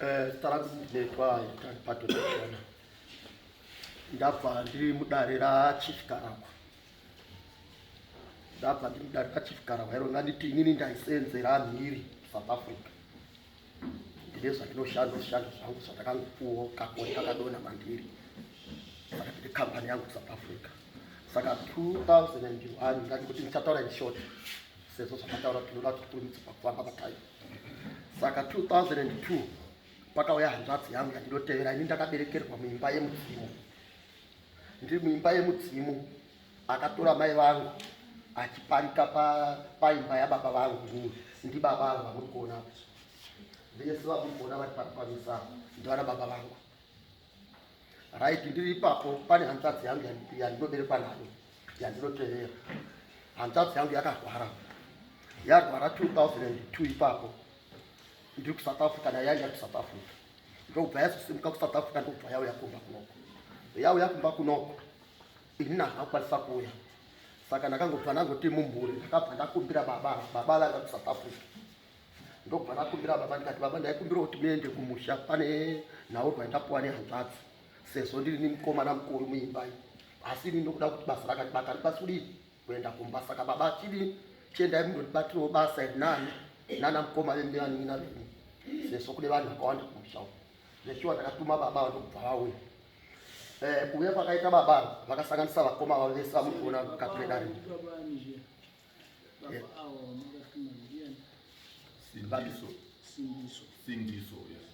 Eh, tara kunetwa patotona ndabva ndiri mudare rachief karako ndabva ndiri mudare rachief karako iro nganditi inini ndaisenzera mhiri south africa ndine zvandinoshanda zvishando zvangu zvandakangopuwo kakoni kakadona mandiri saka ndine kambani yangu south africa saka 2001 ndandikuti ndichataura in short sezvo zvamataura tinoda kuti tikurumidze pakufamba patime saka 2002 pakauya hanzvadzi yangu yandinotevera ini ndakaberekerwa muimba yemudzimu ndiri muimba yemudzimu akatora mai vangu achiparika paimba yababa vangu ini ndibaba vangu vamuri kuona vese vamuri kuona vari pamisana ndivana baba vangu right ndiri ipapo pane hanzvadzi yangu yandinoberekwa nayo yandinoterera hanzvadzi yangu yakarwara yarwara 2002 ipapo ndiri kusouth africa nayo yaiya kusouth africa ndokubva yazosimuka kusouth africa ndokubva yauya kumba kunoko yauya kumba kunoko ini nahakwanisa kuuya saka ndakangobva ndangoti mumhuri ndakabva ndakumbira baba baba vanga kusouth africa ndokubva ndakumbira baba ndikati baba ndaikumbira kuti muende kumusha pane nhaurwa yandapuwa nehanzvadzi sezvo ndiri nemukomana mukuru muimbai asi ini ndokuda kuti basa rakatibata ripasi kudii kuenda kumba saka baba chidii chiendai munoribatirawo basa iri nani nana mukoma vemianin'ina venyu sezvo kune vanhu vakawanda kumusha uku zveshuwa ndakatuma baba vandokubva vauya eh, kuuya kwakaita baba vakasanganisa vakoma vavo vese vamukuona mukati medare Sindiso. Sindiso. Sindiso, yes.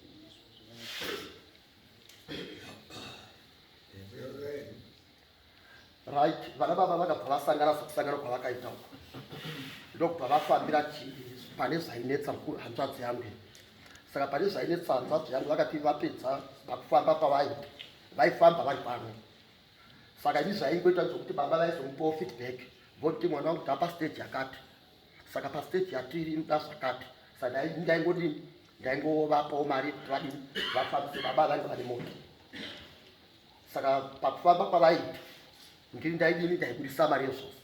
Right, vana baba vakabva vasangana sokusangana kwavakaita uko ndokubva vafambira chii pane zvainetsa hanzvadzi yangu saka pane zvainetsa hanzvadzi yangu vakati vapedza pakufamba pavai vaifamba vari pano saka izvi zvaingoita zvokuti baba vaizomupawo feedback voti mwana wangu taa pastage yakati saka pastage yatiri inoda zvakati saka ndaingodini ndaingovapawo mari kuti vadini vafambise baba vanga vane moto saka pakufamba kwavaita ndiri ndaidini ndaibudisa mari yezvose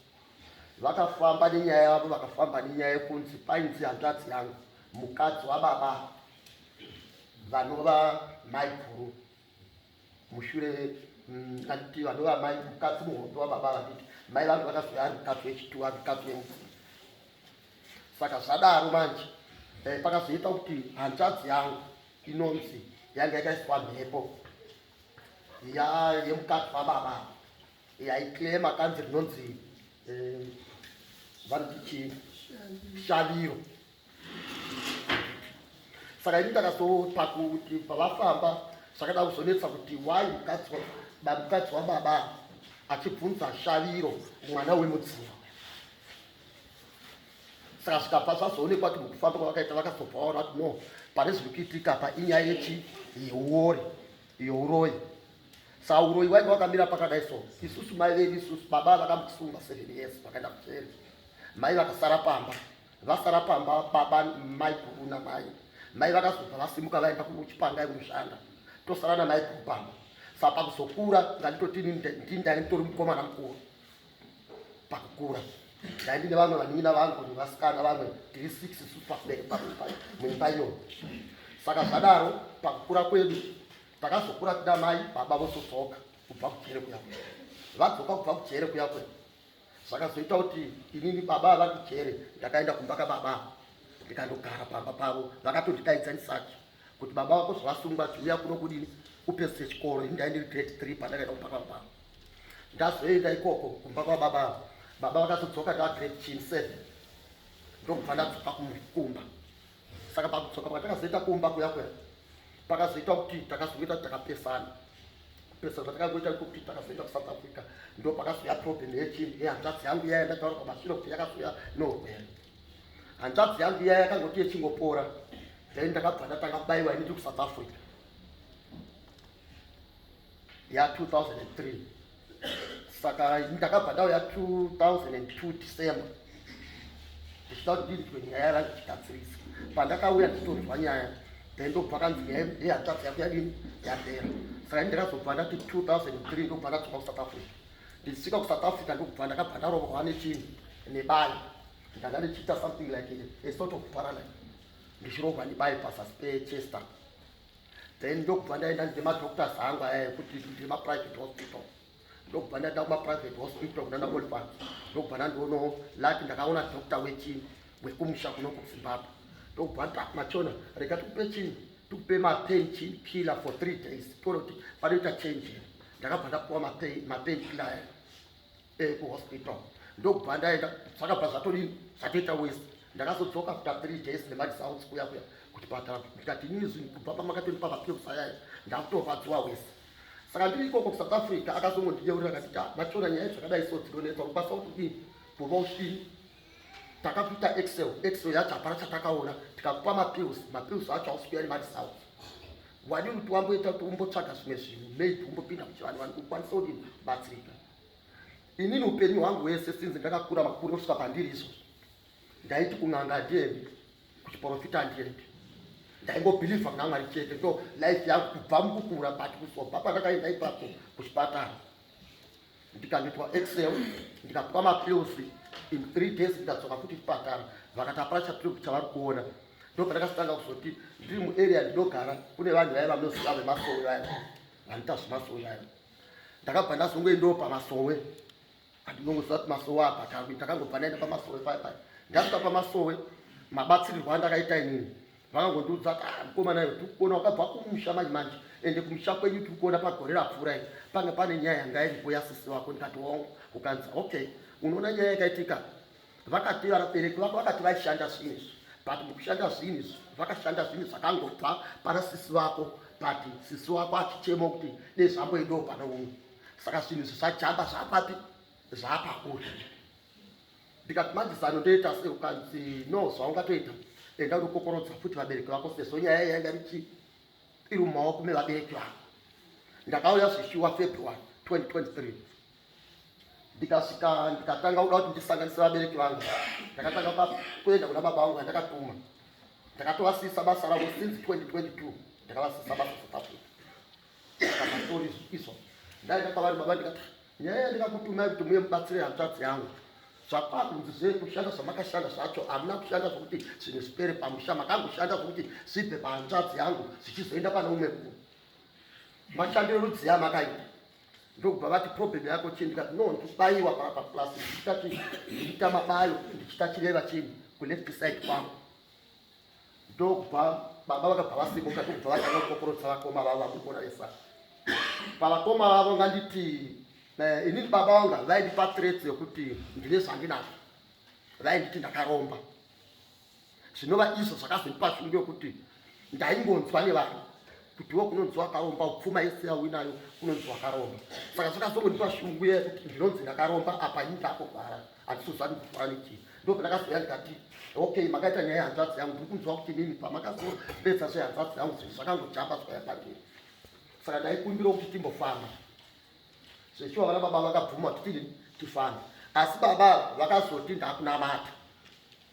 vakafamba nenyaya yavo vakafamba nenyaya yekunzi painzi hanzvadzi yangu mukadzi wababa vanova maiguru mushure kanditi vadova mai mukadzi muhondo wababa vanditi mai vangu vakazoe ari mukadzi wechituwa mukadzi wemufundi saka zvadaro manje eh, pakazoita kuti hanzvadzi yangu inonzi yanga yakaiswa mhepo ya yemukadzi wababa yaiclema kanzi rinonzi eh, vanditi shaviro saka ini ndakazopa kuti pavafamba zvakada kuzonetsa kuti why mukadzi mukadzi wababa achibvunza shaviro mwana wemudzimu saka zvikabva zvazoonekwa kuti mukufamba kwavakaita vakazobva vaona kuti no pane zviri kuitika pa inyaya yechi yeuori youroyi saka uroyi wainge wakamira pakadai so isusu mai vedu isusu baba vakambosunga seven years vakaenda kujeri mai vakasara pamba vasara pamba baba mai guru namai mai vakazobva vasimuka vaenda kuchipanga kunoshanda tosara namai guru pamba sa pakuzokura ndanditoti ndi ndainditori mukomana mukuru pakukura ndaindine vamwe vanin'ina vangu nevasikana vamwe tiri six isu pabereki pamuimba iyo saka zvadaro pakukura kwedu takazokura tida mai baba vosodzoka kubva kujere kuya kwe vadzoka kubva kujere kuya kwe Zvakazoita kuti inini baba ava kujere ndakaenda kumba kababa ndikandogara pamba pavo vakatonditaidza ndisati kuti baba vako zvavasungwa chiuya kuno kudini upedzise chikoro ini ndaindiri grade three pandakaenda kumba kwavo pavo ndazoenda ikoko kumba kwababa avo baba vakazodzoka ndava grade chin seven ndokubva ndadzoka kumba saka pakudzoka kwatakazoita kumba kuya kuya pakazoita kuti takazoita kuti takapesana pesa zvatakazoita kuti takazoita kusouth africa ndo pakazouya problem yechinhu yehanzvadzi yangu iya yandataura kwamashure kuti yakazouya nohwere hanzvadzi yangu iya yakangoti yechingopora then ndakabva ndatanga baiwa ini ndi kusouth africa ya 2003 saka ndakabva ndauya 2002 december ndichida kuti ndinzwe nyaya yava ndichigadzirisa pandakauya nditonzwa nyaya then ndobva kanzi nyaya yehanzvadzi yako yadini yapera saka ini ndakazobva ndati 2003 ndobva ndadzoka kusouth africa ndichisvika kusouth africa ndokubva ndakabva ndarovorwa nechinhu nebayi ndanga ndichiita something like a sort of paralyze ndichirohwa nebayi pasasi pechester then ndokubva ndaenda ndemadoctors angu aya ekuti ndemaprivate hospital ndokubva ndaenda kumaprivate hospital kunana oliver ndokubva ndandiono lati ndakaona doctor wechini wekumusha kuno kuzimbabwe ndokubva ndamachona rega tikupe chini tikupe mapain chin killer for three days toona kuti panoita change ndakabva ndapuwa mapain killer aya eh, kuhospital ndokubva ndaenda zvakabva zvatodini zvatoita wese ndakazodzoka after three days nemadisounds kuya kuya kuchipatara ndikati inini zvinhu kubva pamakatondipa mapills ayaya ndakutorwadziwa wese saka ndiri ikoko kusouth africa akazongondiyeurira akati ta machona nyaya zvakadai so dzinonetsa kubasa kudini kuva ushini takakuita excel excel yacho hapana chatakaona tikakupa mapills mapills acho ausikuya nemadisounds wadini kuti wamboita kuti umbotsvaga zvimwe zvinhu maid umbopinda kuchivanhu vanhu kukwanisa kudini batsirika Inini upenyu hwangu hwese sinzi ndakakura makuri kusvika pandiri izvo ndaiti kun'anga handiendi kuchiporofita handiendi ndaingobhilivha kuna mwari chete ndo life yangu kubva mukukura but kusobva pandakaenda ipapo kuchipatara ndikanoitwa excel ndikapuwa mapills in three days ndikadzoka futi chipatara vakati hapana chatiri chavari kuona ndo pandakasitanga kuzoti ndiri muarea ndinogara kune vanhu vaya vanoziva vemasowe vaya vanoita zvemasowe vaya ndakabva ndazongoendawo pamasowe andinongoziva kuti masowe apa taku ndakangobva ndaenda pamasowe paya paya ndasvika pamasowe mabatsirirwo andakaita inini vakangondiudza kuti ah, mukomana iwe tikuona wakabva kumusha manje manje ende kumusha kwenyu tiri kuona pagore rapfuura i panga pane nyaya yanga iripo yasisi wako ndikati wongo ukanzi okay unoona nyaya yakaitika Vakati vabereki vako vakati vaishanda zvinhu izvi but mukushanda zvinhu izvi vakashanda zvinhu zvakangobva pana sisi vako but sisi wako achichema kuti dei zvamboendawo pane umwe saka zvinhu izvi zvajamba zvapapi zvapakuri ndikati manje zano ndoita se ukanzi no zvaungatoita enda unokokorodza futi vabereki vako sezvo nyaya yainga richi iri mumaoko mevabereki vako ndakauya zvishuwa february 2023 ndikasvika ndikatanga kuda kuti ndisanganisira vabereki vangu ndakatanga pa kuenda kuna baba vangu vandakatuma ndakatovasisa basa ravo since 2022 ndakavasisa basa south africa ndakamatori izvo ndaenda kwavari baba ndikati nyaya yandikakutumai kuti muye mubatsire hanzvadzi yangu zvakwakunzi zve kushanda zvamakashanda zvacho hamuna kushanda zvokuti zvinhu zvipere pamusha makangoshanda zvokuti zvibve pahanzvadzi yangu zvichizoenda pane umwe ku mashandiro rudziya makaita ndokubva vati problem yako chii ndikati no ndikubaiwa papa plus ndichitati ndichita mabayo ndichita chireva chinhu kuleft side kwangu ndokubva baba vakabva vasimuka ndokubva vatanga kukokorodza vakoma vavo vakukona vesa pavakoma vavo nganditi eh, inini baba vanga vaindipa threats yokuti ndine zvandinazvo vainditi ndakaromba zvinova izvo zvakazondipa shungu yokuti ndaingonzwa nevanhu kutiwo kunonzi wakaromba pfuma yese yauinayo kunonzi wakaromba saka zvakazongondipa shungu ye kuti ndinonzi ndakaromba apa ini ndakuvhara handisozvani kuvhara nechii ndo pandakazouya ndikati okay makaita nyaya yehanzvadzi yangu ndiri kunzwa kuti nini pamakazopedza zvehanzvadzi yangu zvinhu zvakangojamba zvaya pandiri saka ndaikumbirawo kuti timbofamba zvechiwa vana baba vakabvuma kuti tifambe asi baba vakazoti ndakunamata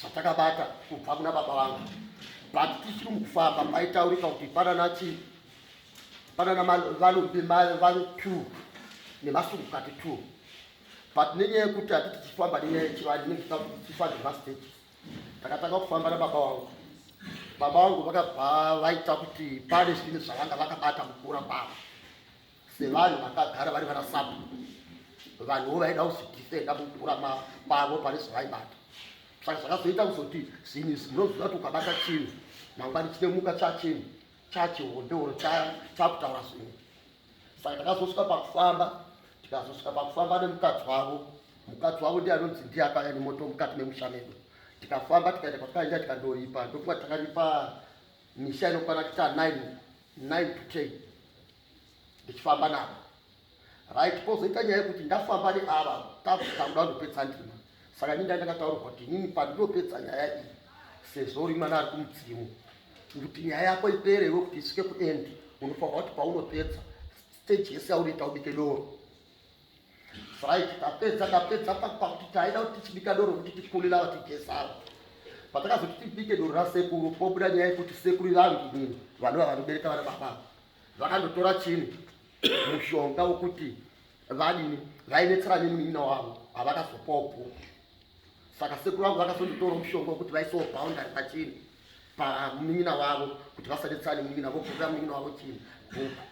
zvatakabata kubva kuna baba vangu but tisiri mukufamba paitaurika kuti panana chii panana valumbi vanu two nemasungukati two but nenyaya yekuti hatiti tichifamba nenyaya yechivanhu inenge tichifa zvemastages takatanga kufamba nababa wangu baba vangu vakabva vaita kuti pane zvinhu zvavanga vakabata mukura kwavo sevanhu vakagara vari vanasapo vanhuwo vaida kuzvidhifenda mukurama kwavo pane zvavaibata saka zvakazoita kuzoti zvinhu izvi munoziva kuti ukabata chinhu mangwani chinemuka chachinhu chachihondeoro chakutaura zvinhu saka takazosvika pakufamba tikazosvika pakufamba nemukadzi wavo mukadzi wavo ndiye anonzi ndiye akaya nemoto mukati memusha medu tikafamba tikaita kwatikaenda tikandoripa ndokuva takaripa misha inokwana kuita 9 9 to 10 ndichifamba navo right kozoita nyaya yekuti ndafamba neava takuda ndopedza ndima saka ini ndaenda kataurwa kuti inini pandinopedza nyaya iyi sezvo uri mwana ari kumudzimu kuti nyaya yako ipere iwe kuti isvike kuend unofanira kuti paunopedza stage yese yaunoita ubike doro right tapedza tapedza pakuti taida kuti tichibika doro kuti tikulila vatigesara patakazoti tibike doro rasekuru pobuda nyaya yekuti sekuru vangu inini vanova vanobereka vana baba vakandotora chini mushonga wokuti vadini vainetsera nemunin'ina wavo havakazopopo saka sekuru vangu vakazondotora mushonga wokuti vaisawo boundary pachini pamunin'ina wavo kuti vasanetsera nemunin'ina vobvurira munin'ina wavo chini bhuku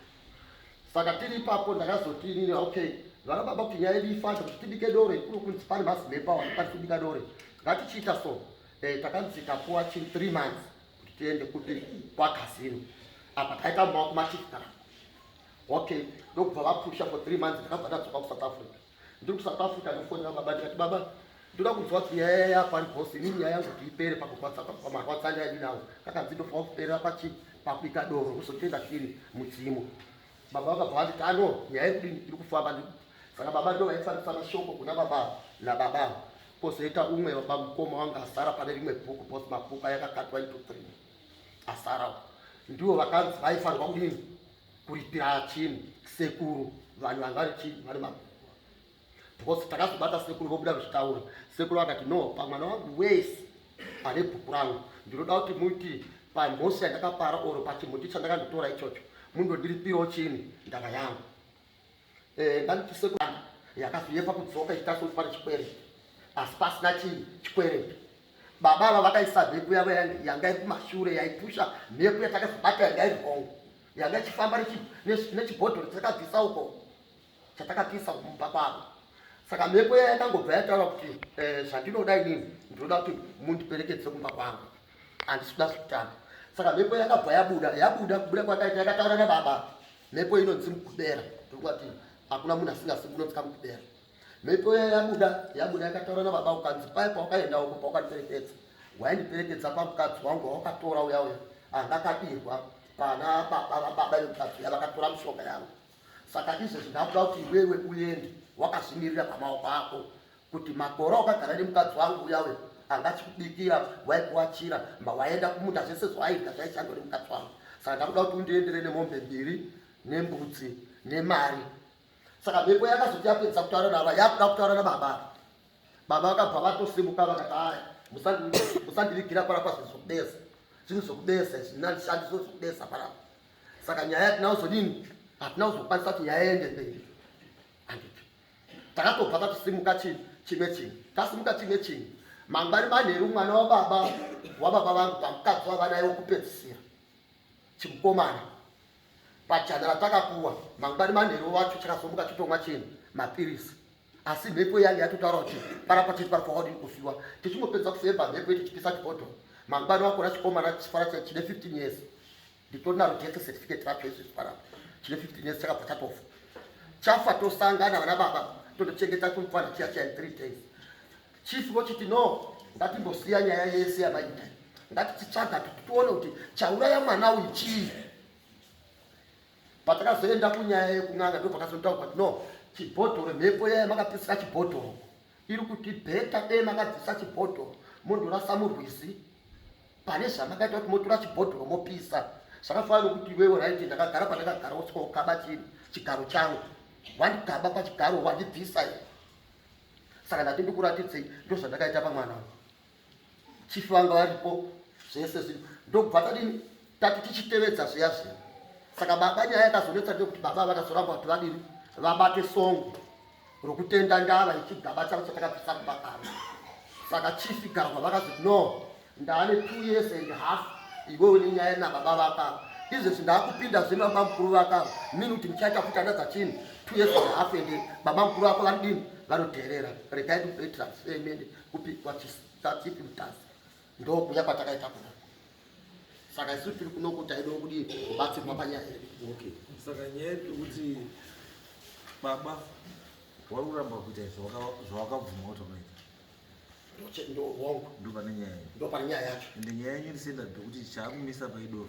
saka tiri ipapo ndakazoti inini okay vana baba kuti nyaya yedu ifasha kuti tibike dore kuno kunzi pane mazimepa wani kwanisa kubika dore ngatichiita so eh, takanzi tapuwa chini three months kuti tiende kuti kwakazini apa taita mumba wako machifukana okay ndokubva vapusha for three months ndakabva ndadzoka kusouth africa ndiri kusouth africa ndofonera baba ndikati baba ndoda kunzwa kuti nyaya yaya pari bosi inini nyaya yangu kuti ipere pakumarwatsanya ini nawo kakanzi ndofanira kuperera pachii pakuita doro kuzotenga chiri mudzimu Baba vakabva vati kano nyaya yekudini iri kufamba ndi saka baba ndo vaifarisa mashoko kuna baba nababa kozoita umwe baba mukoma wanga asara pane rimwe bhuku bos mabhuku ayakakatwa into three asarawo ndivo vakanzi vaifanirwa kudini kuripira chinhu sekuru vanhu vanga vari chii vari mabhuku because takazobata sekuru vobuda kuzvitaura sekuru vakati no pamwana wangu wese ane bhuku rangu ndinoda kuti muti pamhosi yandakapara or pachimuti chandakanditora ichocho mundondiripirawo chini ndava yangu eh, ndanoti sekuru yakazoyepa kudzoka ichitasokuti pane chikwere asi pasina chii chikwere baba ava vakaisa mhepo yavo yanga iri kumashure yaipusha mhepo yatakazobata yanga iri hongo yanga ichifamba nechibhodhoro tichakabvisa uko chatakatiisa kumba kwavo saka mhepo iya yakangobva yataura kuti eh, zvandinoda inini ndinoda kuti mundiperekedze kumba kwangu handisi kuda zvekutamba saka mhepo yakabva yabuda yabuda kubuda kwakaita yakataura nababa mhepo inonzi mukubera ndokuti hakuna munhu asingasi kunonzika mukubera mhepo iya yabuda yabuda yakataura nababa ukanzi paye pawakaenda uko pawakandiperekedza waindiperekedza pamukadzi wangu wawakatora uya uya angakadirwa pana baba vababa vemukadzi uya vakatora mishonga yangu Saka izvezvi ndakuda kuti iwewe uende wakazvimirira pamaoko ako kuti makore wakagara nemukadzi wangu uyawe anga achikubikira waikuwachira mba waenda kumunda zvese zvawaita zvaishandwa nemukadzi wangu saka ndakuda kuti undiendere nemombe mbiri nembudzi nemari saka mhepo yakazoti yapedza kutaura nava yakuda kutaura nababa baba vakabva vatosimuka vakati aya musandivigira parapa zvinhu zvokubesa zvinhu zvokubesa zvinandishandiso zvokubesa parapa saka nyaya yatina kuzodini hatina kuzokwanisa kuti nyaya yende mberi anditi takatobva tatisimuka chii chimwe chinhu tasimuka chimwe chinhu mangwari manheru mwana wababa wababa vangu pamukadzi wavanaye wokupedzisira chimukomana pajana ratakapuwa mangwari manheru wacho chakazomuka chitomwa chinhu mapirisi asi mhepo yange yatotaura kuti parapa tiri pari kwawadini kufiwa tichingopedza kufemba mhepo yedu tichipisa chibhodho mangwana wakona chikomana chifara cha chine 15 years nditonaro tese certificate racho izvi zviparapa chine 15 years chakabva chatofa chafa tosangana vana baba tondochengeta kumfana chiya chiya in 3 days chief vochiti no ngatimbosiya nyaya yese yamaita ngatititsvaga kuti tione kuti chauraya mwana uyu chii Patakazoenda kunyaya yekun'anga ndopakazotaurwa kuti no chibhodhoro mhepo yaya makapisira chibhodhoro iri kuti bheta dei makabvisa chibhodhoro mondorasa murwizi pane zvamakaita kuti motora chibhodhoro mopisa zvakafana nokuti iwewe right ndakagara pandakagara usika ukaba chii chigaro changu wandikaba pachigaro wandibvisa saka ndati ndikuratidzei ndozvandakaita pamwana chief vanga varipo zvese zvinhu ndokubva tadini tati tichitevedza zviya zviya saka baba nyaya yakazonetsa ndeyekuti baba vakazoramba kuti vadini vabate songo rokutenda ndava ichigaba chavo chatakabvisa kuba karo saka chief garwa vakazoti no ndaane two years and half iwe une nyaya nababa vakavo izvezvi ndaakupinda zvino baba mukuru vakavo mini kuti muchaita kuti anadza chini two years and half and baba mukuru vako vanodini vanoteerera regai ndikuitira semene kupigwa chisatsipi mutazi ndokuya kwatakaita kuna saka isu tiri kuno kuti taidawo kudii kubatsirwa panyaya yedu okay saka nyaya yedu kuti baba wari kuramba kuita izvi zvawakabvuma kuti unoita ndopane nyaya yacho ende nyaya yenyu ndisenda ndokuti chaakumisa paidoro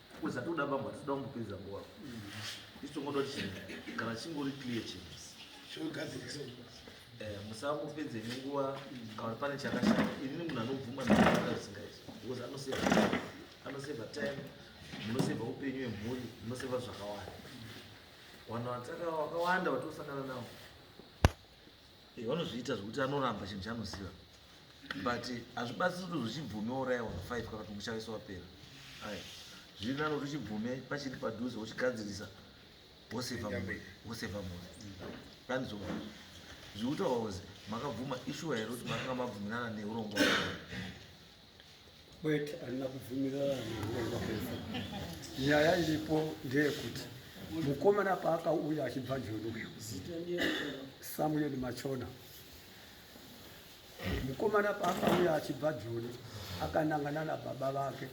Kuza toda bambo hatitoda kumbopedza nguva. Isu tongoda kuti kana chingori clear chinhu. Chogadzirisa. Eh, musambopedze nenguva kana pane chakashata. Ini munhu anobvuma nezvakadaro zvisingaiti. Because anoseva anoseva time, munoseva upenyu hwemhuri, munoseva zvakawanda. Vanhu vataka vakawanda vatosangana navo. Eh, vanozviita zvekuti anoramba chinhu chaanoziva but hazvibatsiri kuti zvichibvume oraiwa five kana kuti muchaiso wapera ai zviri nani kuti uchibvume pachiri padhuze uchigadzirisa woseva mhuri woseva mhuri pani zvo zviri kutaura kuti makabvuma ishuwa here kuti makanga mabvumirana neurongo Kwete, handina kubvumirana nekuronga kwese. Nyaya iripo ndeyekuti mukomana paakauya achibva njono samuel machona mukomana paakauya achibva joni akanangana nababa vake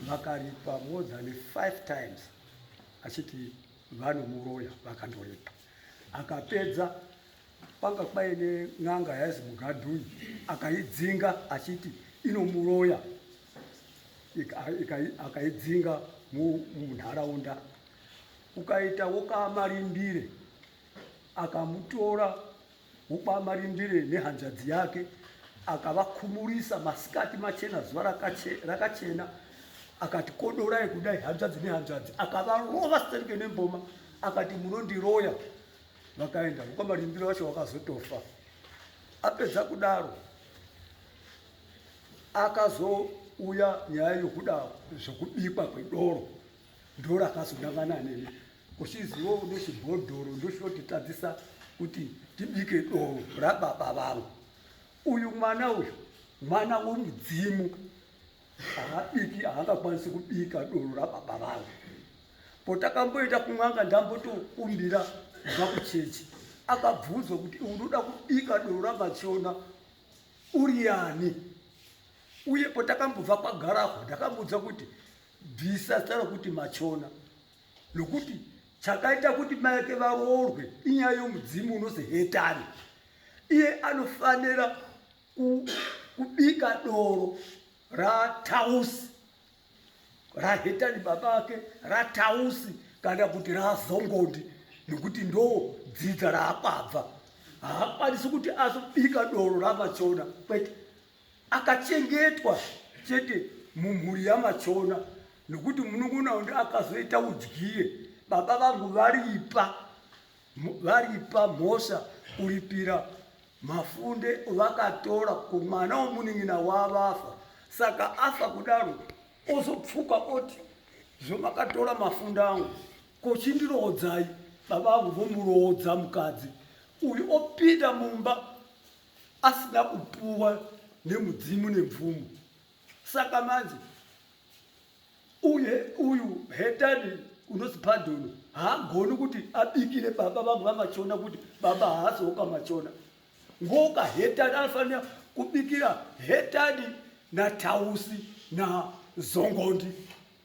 vakaripa more than five times achiti vanomuroya vakandoripa akapedza Kwanga kwaine n'anga yainzi Mugadhuyi akaidzinga achiti inomuroya akaidzinga munharaunda ukaita wokaamarindire akamutora wokwamarindire nehanzvadzi yake akavakhumurisa masikati machena zuva rakachena akati kodorai kudai hanzvadzi nehanzvadzi akavarova sterke nemboma akati munondiroya vakaenda uko marimbiro wacho wakazotofa apedza kudaro akazouya nyaya yokuda zvokubikwa kwedoro ndoro akazodangana neni uchizivo ndochibhodhoro ndosvotitadzisa kuti tibike doro rababa vangu uyu mwana uyu mwana womudzimu haabiki haangakwanisi kubika doro rababa vangu potakamboenda kun'anga ndambotokumbira kubva kuchechi akabvunzwa kuti unoda kubika doro ramachiona uri yani uye potakambobva kwagarahwa ndakambudza kuti bvisa zita rokuti machona nokuti chakaita kuti maeke varoorwe inyaya yomudzimu unozi hetani iye anofanira kubika doro ratausi rahetani baba ake ratausi kana kuti razongodi nekuti ndo dzidza raakwabva haakwanisi kuti azobika doro ramachona kwete akachengetwa chete mumhuri yamachona nekuti munun'una undi akazoita udyire baba vangu varipa varipa mhosva kuripira mafunde ovakatora kumwana womunin'ina wavafa saka afa kudaro ozopfuka oti zvomakatora mafunde angu kochindiroodzai baba vangu vomuroodza mukadzi uyu opinda mumba asina kupuwa nemudzimu nemvumo saka manje Uye uyu hetani unonzi Pardon haagoni kuti abikire baba vangu vaMachona kuti baba haazoka Machona. Ngoka hetani anofanira kubikira hetani naTausi naZongondi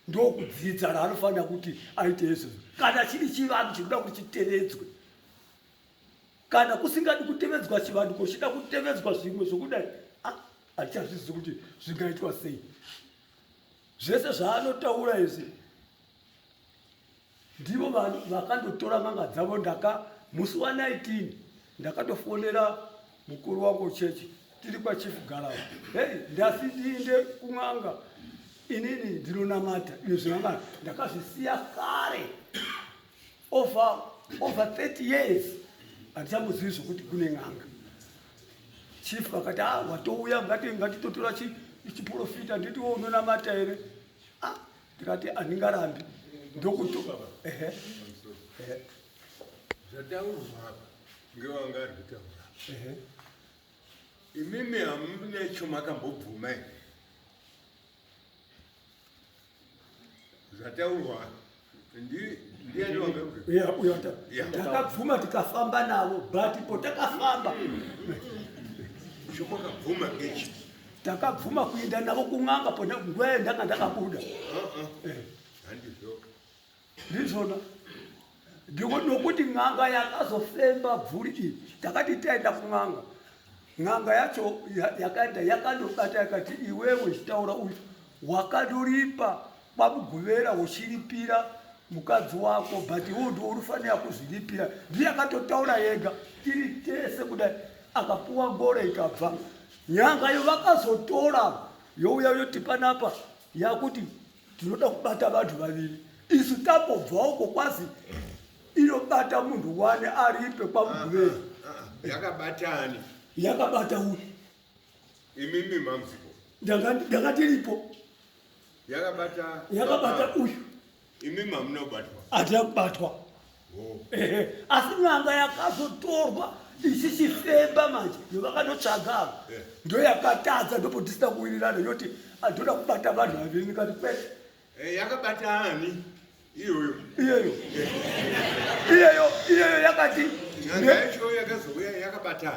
ndokudzidza raanofanira kuti aite izvozvo. Kana chiri chivanhu chinoda kuti chitevedzwe kana kusingadi kutevedzwa chivanhu kochida kutevedzwa zvimwe zvokudai ah, hatichazvizivi kuti zvingaitwa sei zvese zvaanotaura izvi ndivo vanhu vakandotora n'anga dzavo ndaka musi wa 19 ndakatofonera mukuru wangu chechi tiri kwachief garau hei ndasi ndiinde kun'anga inini ndinonamata ine zvinangana ndakazvisiya kare over over 30 years handichambozivi zvokuti kune n'anga chief vakati a ah, watouya ngatitotora chiprofita nditi wo unonamata here a ah, ndikati handingarambi ndokuto ehe ehe zvataurwa apa ngewanga ari kutaura ehe imimi hamune chomakambobvuma here zvataurwa ndakabvuma tikafamba navo but po takafamba zvokwakabvuma ngechi takabvuma kuenda navo kun'anga pona nguva yandanga ndakabuda uh-uh. eh. ndizvona ndiko nokuti n'anga yakazofemba bvuri iyi takati taenda kun'anga n'anga yacho yakaenda yakandobata yakati iwewe uchitaura uyu wakandoripa kwamuguvera uchiripira mukadzi wako but iwo ndiwo unofanira kuzviripira ndiye akatotaura yega tiri tese kudai akapuwa ngoro ikabva nyanga yo vakazotora youya yoti panapa yakuti tinoda kubata vanhu vaviri isu tambobvawo kokwazi inobata munhu wani aripe kwamuguvei ah, ah, ah, yakabatani yakabata uyu imimi mamzipo ndanga tiripo yakabata uyu imimi hamunobatwa hatina kubatwa ehe asi n'anga yakazotorwa ichichifemba manje yovakanotsvaga ava Eh. ndoyakatadza ndopodisina kuwirirana yoti andoda kubata vanhu vaviri ndikati kwete Eh, yakabata ani iyoyo iyeyo iyeyo iyeyo yakati nyanga yacho yakazouya yakabata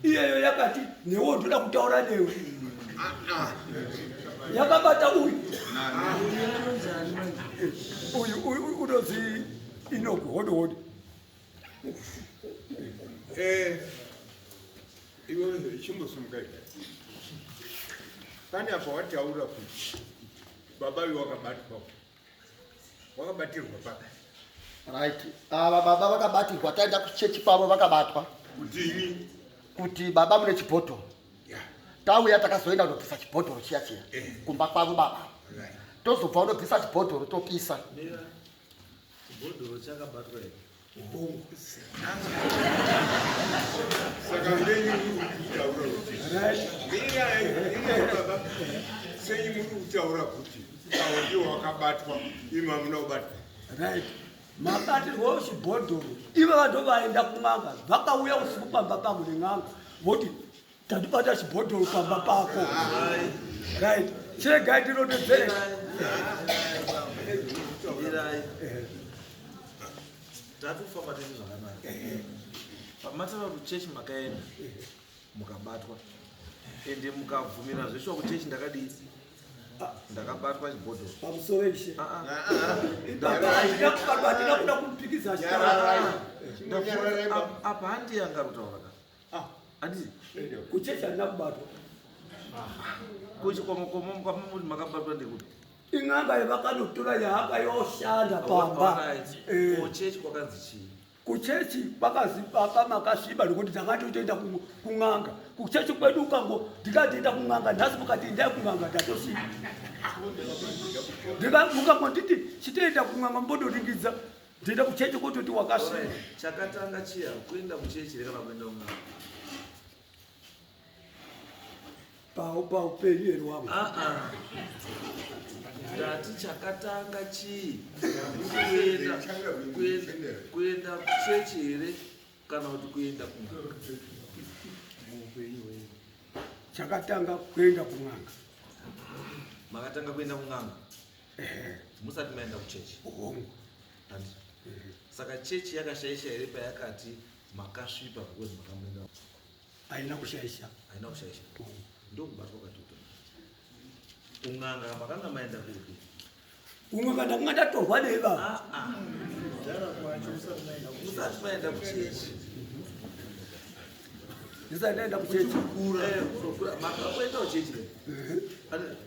iyeyo yakati newo ndoda kutaura newe yakabata uyu uyu unonzi inogo hode hode eh, iwechimbosumukai pane apa wataura kuti baba iwe wakabatwa wakabatirwa pa right ava baba vakabatirwa taenda kuchechi kwavo vakabatwa kudini kuti baba mune chibhodhoro yeah. tauya takazoenda kunobvisa chibhodhoro chiya chiya eh. kumba kwavo baba right. tozobva unobvisa chibhodhoro topisa yeah. sei muri kutaura kuti awo ndiwo wakabatwa imi amuna kubatwa right mabatirwo chibhodhoro ivo vado vaenda kun'anga vakauya usiku pamba pangu nen'anga voti tatibata chibhodhoro pamba pako right chegai tinodedzere tatofamba tese zvakanaka pamatava kuchechi makaenda mukabatwa ende mukabvumira zveshuwa kuchechi ndakadii ndakabatwa chibhodho pamusoro ishe ndakaakuda kumpikidza apa handi yangarutauraka Ah, handizi. Kuchechi handina kubatwa. Kuchikomokomo mukama muri makabatwa ndekuti. Ing'anga yevakanotora yahanga yoshanda pamba. Eh. Kuchechi kwakanzi chii? kuchechi kwakazipa makasviba nokuti ndakatotoenda kun'anga kuchechi kwedu ukango ndikatoenda kun'anga nhasi mukati endai kun'anga ndatosviba ndika mukangonditi chitoenda kun'anga mbodoringidza Tenda kuchechi kuti kuti wakasvika. Chakatanga chiya kuenda kuchechi reka vakuenda umwe. Pau pau penyu here wangu. Ah ah. Ndati chakatanga chii? Kuenda kuenda kuenda kuchechi here kana kuti kuenda kumwe. Chakatanga kuenda kumwanga. Makatanga kuenda kumwanga. musati maenda kuchechi hongu handi saka chechi yakashaisha here payakati makasvipa because makamuenda haina kushaisha haina kushaisha Hongu. ndokubatwa katuto kun'anga makanga maenda kupi umwe kana kunga ndatorwa neva Ah, ah. musati maenda kuchechi ndisati ndaenda kuchechi makakuenda kuchechi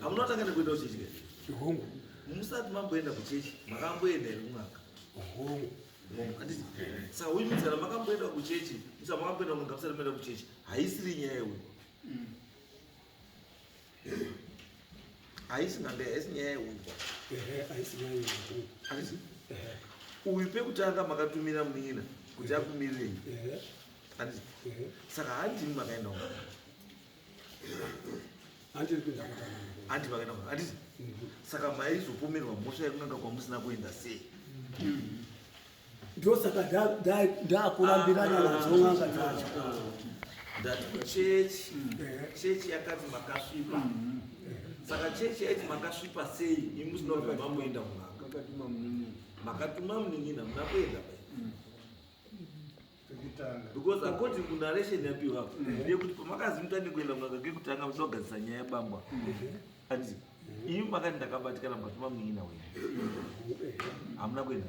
hamuna kutanga nekuenda kuchechi hongu musati mamboenda kuchechi makamboenda here kun'anga hongu sahuyu mitsara makamboenda kuchechi musa makamboenda kun'anga musati maenda kuchechi haisiri nyaya yehuyu haisi nhambe haisi nyaya yeunzwa uyu pekutanga makatumira munin'ina kuti akumirirei saka hanti imi makaenda uko hanti makaenda uko handiti saka maizopomerwa mhosva yekunanga kwamusina kuenda sei mm-hmm. ndosaka ndakurambirana nadzo n'anga dzacho that church church yakati makasvipa saka church yaiti makasvipa sei imi zvinobva mamoenda munanga makatuma munin'ina muna kuenda pai because according to narration yapiwa ndeyekuti pamakazi mutane kuenda kunaka kekutanga muchida kugadzisa nyaya yebambwa and imi makati ndakabatikana mukati mamuina wenyu hamuna kuenda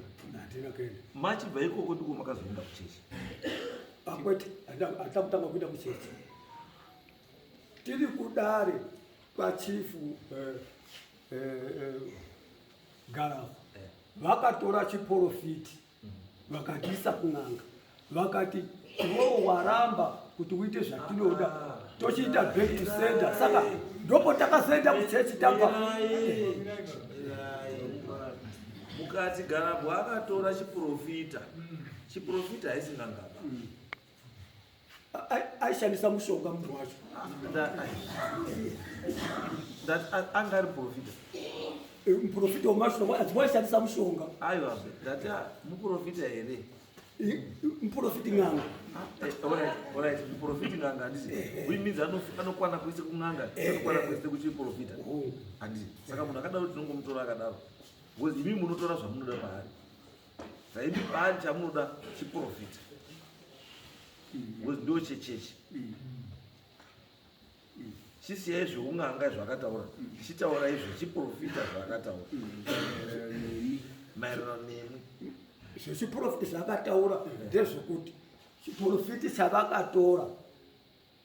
machibva ikoko ndiko makazoenda kuchechi akwete hatina kutanga kuenda kuchechi tiri kudare kwachifu eh, eh, eh, garafu vakatora chiporofiti vakatiisa kun'anga vakati iwewo waramba kuti uite zvatinoda tochiita back to center saka ndopo takazoenda kuchechi tamba mukati garabwa akatora chiprofita chiprofita haisi n'angaba aishandisa mushonga munhu wacho anga ari profita eh, muprofita wemashonga adziwa aishandisa mushonga aiwa ndati ah, muprofita here eh, muprofiti n'anga ah, eh, muprofiti n'anga handisi uimidzi anokwana kwese kun'anga anokwana kwese kuchiprofita oh. handisi saka munhu akadaro tinongomutora akadaro bcause imi munotora zvamunoda paari Zaidi bani chamunoda chiprofita. Because ndo chechechi. Chisiyai zveunganga zvakataura. Chitaura izvo chiprofita zvakataura. Maererano nemi. Izvo chiprofita zvakataura ndezvokuti chiprofita chavakatora.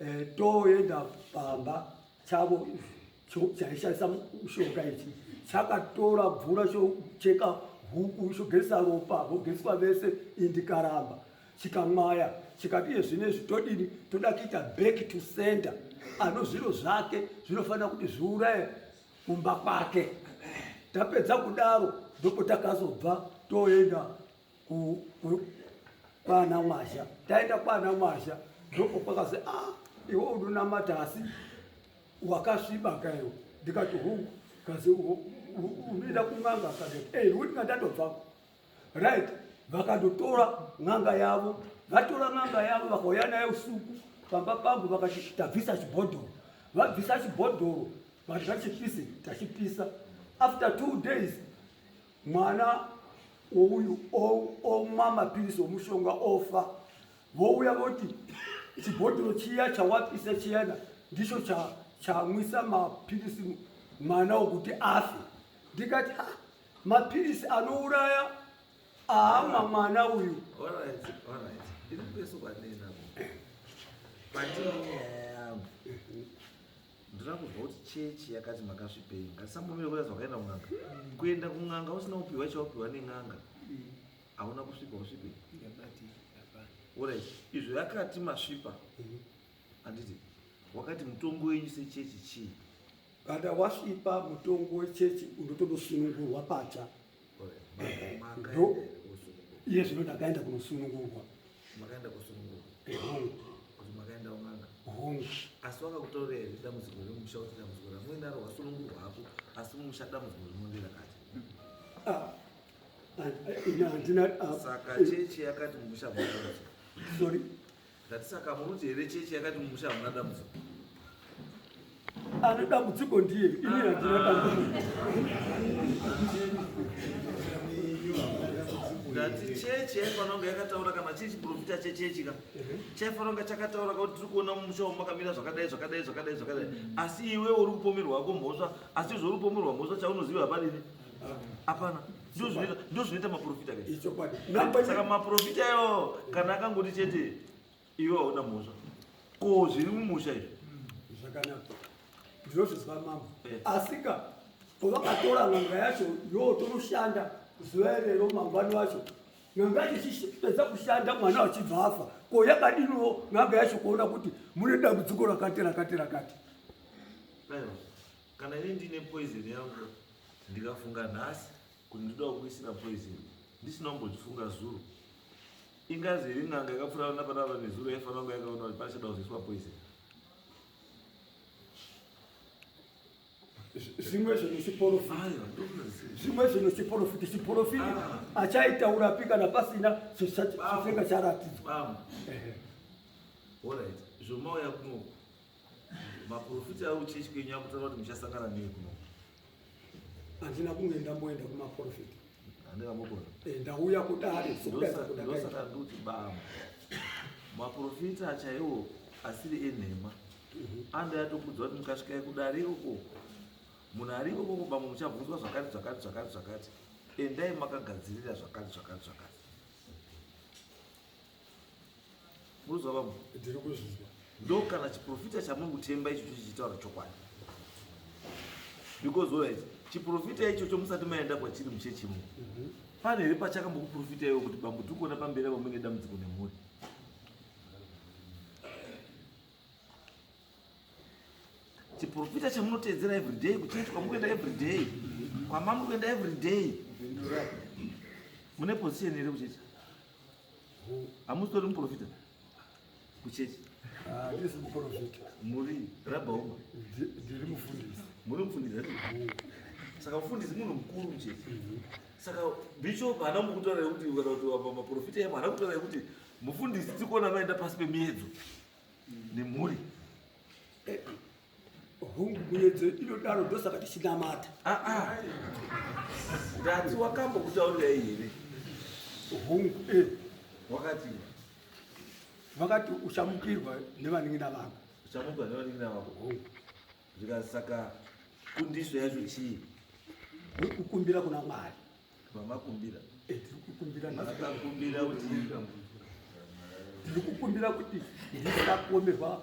eh, toenda pamba chavo chaishandisa mushonga ichi chakatora mvura chocheka huku chogesa ropa vogeswa vese indikaramba chikamwaya chikati iye zvine zvitodini toda kuita back to center ano zviro zvake zvinofanira kuti zviuraye kumba kwake tapedza kudaro ndoko takazobva toenda kwana mwazha taenda kwana mwazha ndoko kwakazi ah iwe unonamata asi wakasviba kaiwo ndikati hungu kazi unoenda kun'anga akati ei eh, uti ndatobvako right vakandotora n'anga yavo vatora n'anga yavo vakauya naye usuku pamba pangu vakati tabvisa chibhodhoro vabvisa chibhodhoro vati vachipise tachipisa after two days mwana wouyu omwa mapirisi omushonga ofa vouya voti chibhodhoro chiya chawapisa chiyana ndicho chamwisa mapirisi mwana wokuti afe ndikati ha mapirisi anouraya aamwa mwana uyu Ndinoda kunzwa kuti chechi yakati makasvipei. Ngatisambomira kuda zvakaenda kun'anga. Kuenda kun'anga usina kupiwa chaupiwa nen'anga. Hauna kusvipa usvipe. Alright. Izvo yakati masvipa. Anditi wakati mutongo wenyu sechechi chii? Kana wasvipa mutongo wechechi unotonosunungurwa patsva. ndo iye zvino ndakaenda kunosunungurwa makaenda kusunungurwa ehongu kuti makaenda umanga hongu asi wakakutorera here dambudziko remusha kuti dambudziko ramuinaro wasunungurwa hako asi mumusha dambudziko rinondira kati ah, ah, eh, ina handina ah, saka eh, chechi yakati mumusha mwaaa sorry Ndati saka muruti here chechi yakati mumusha hamuna dambudziko? Ane dambudziko ndiye, ini handina dambudziko. Ndati chechi yaifanira kunge yakataura kana chiri chiprofita chechechi ka chaifanira kunge chakataura kuti tiri kuona mumusha umu makamira zvakadai zvakadai zvakadai zvakadai asi iwe uri kupomerwa hako mhosva asi izvo uri kupomerwa mhosva chaunoziva hapana ini hapana ndozvinoita maprofita saka maprofita iwawo kana akangoti chete iwe hauna mhosva ko zviri mumusha izvi hmm, zvakanaka ndinozvizwa mambo eh. asika pavakatora n'anga yacho yo tonoshanda zuva irero mangwani wacho n'anga yacho ichipedza kushanda mwana wachibva afa ko yakadiniwo n'anga yacho kuona kuti mune dambudziko rakati rakati rakati Kana ini ndine poison yangu ndikafunga nhasi kuti ndoda kukuisira poison ndisina kumbozvifunga zuro ingazi iri n'anga yakapfuura napanapa nezuro yaifanira kunge yakaona kuti pachada kuzoiswa poison zvimwe zvinhu chiporofiti zvimwe zvinhu chiporofiti chiporofiti ah. achaitaurapi kana pasina chifenga charatidzwa orit zvomauya kunoku Maporofita ari kuchechi kwenyu akutaura kuti muchasangana nei kuno? Handina kunge ndamboenda kumaporofita. Handina mokona. Eh, ndauya kudare sokudaidza kuda. Ndosaka nduti baba. Maporofita chaiwo asiri enhema. Mhm. Anda yatokudza kuti mukasvika kudare uko munhu ari ikoko bamwe muchabvunzwa zvakati zvakati zvakati zvakati. Endai makagadzirira zvakati zvakati zvakati. Munonzwa vamwe? Ndiri kuzvinzwa. Ndo kana chiprofita chamuri kutemba icho chichitaura chokwadi. Because all right, chiprofita ichocho musati maenda kwachiri muchechi mu. Mhm. Pane here pachakambokuprofita iwo kuti bambo tiri kuona pamberi apo mune dambudziko nemhuri? chiprofita chamunoteedzera everyday kuchechi kwamukuenda everyday kwamamuri kuenda everyday mune position here kuchechi Hamusitori muprofita kuchechi? Handisi ah, muprofita. Muri rabhauma? Ndiri mufundisi. Muri mufundisi? Mm. Saka mufundisi munhu mukuru muchechi. Mm-hmm. Saka bishop haana mukutaura kuti kana kuti apa maprofita emo haana kutaura kuti mufundisi tikuona maenda pasi pemiedzo nemhuri. Eh, hungu muyedzo inodaro ndosaka tichinamata ah, ah. ndati wakambo kutaurirai here hungu eh. wakati vakati uchamukirwa nevanin'ina vako uchamukirwa nevanin'ina vako hungu zvikasaka kundiso yacho chii kukumbira kuna mwari vamakumbira eh, tiri kukumbira akakumbira kuti tiri kukumbira kuti ndisakuomerwa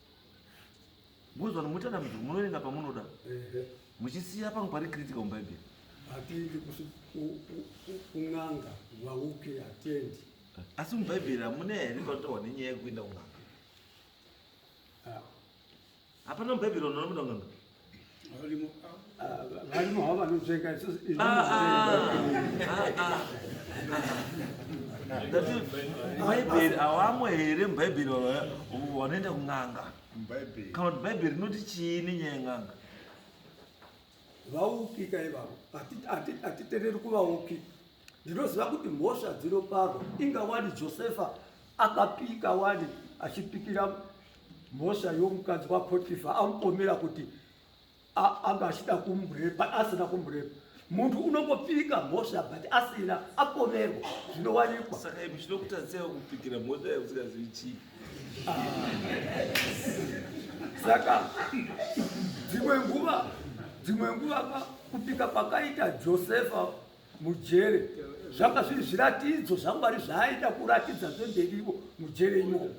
Mozvano moita dambudziko munoverenga pamunoda muchisiya pangu pari critical mubhaibheri hatiendi kun'anga vauke hatiendi asi mubhaibheri hamune here panotaurwa nenyaya yekuenda kun'anga ah. hapana mubhaibheri vanonoda kun'anga varimo havo vanopfeka bhaibheri awamwe here mubhaibheri vanoenda kun'anga kana kuti bhaibheri rinoti chii nenyaya yen'anga vaupika ivavo hatitereri kuvaupika Ndinoziva kuti mhosva dzinoparwa inga wani Josefa akapika wani achipikira mhosva yomukadzi waPotifa amupomera kuti anga achida kumurepa asina kumurepa munhu unongopika mhosva but asina apomerwa zvinowanikwa saka imi zvinokutadzisa kupikira mhosva yausikazivi chii ah. saka dzimwe nguva dzimwe nguva kupika kwakaita josefa mujere zvanga zviri zviratidzo zvamwari zvaaida kuratidza zvemberivo mujere imomo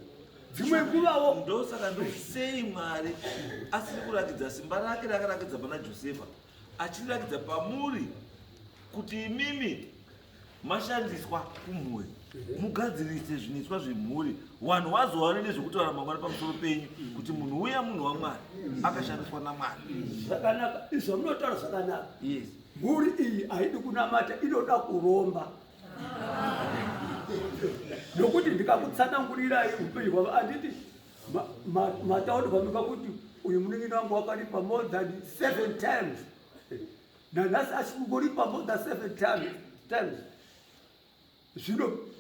dzimwe nguvawo ndosaka ndosei mwari asiri kurakidza simba rake rakarakidza pana josefa achirirakidza pamuri kuti imimi mashandiswa kumhuri mugadzirise zviniswa zvemhuri vanhu vazowane nezvekutaura mangwana pamusoro penyu kuti munhu uya munhu wamwari akashandiswa namwari zvakanaka izvo munotaura zvakanaka yes Mhuri iyi haidi kunamata inoda kuromba nokuti ndikakutsanangurirai upenyu hwavo anditi matauri pamika kuti uyu munin'ina wangu wakaripa more than seven times nanhasi achikungoripa more than seven times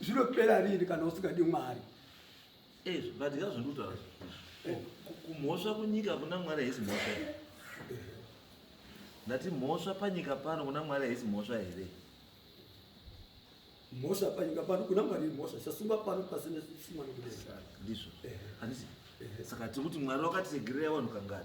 zvinopera rini kana usingadi mwari eh, vadya zvinutaura eh. kumhosva kunyika kuna mwari haisi mhosva eh. ndati mhosva panyika pano kuna mwari haisi mhosva here mhosva panyika pano kuna mwari mhosva chasungwa pano pasine sumano kudendizvo handisi saka tiri kuti mwari wakatiregerera vanhu kangani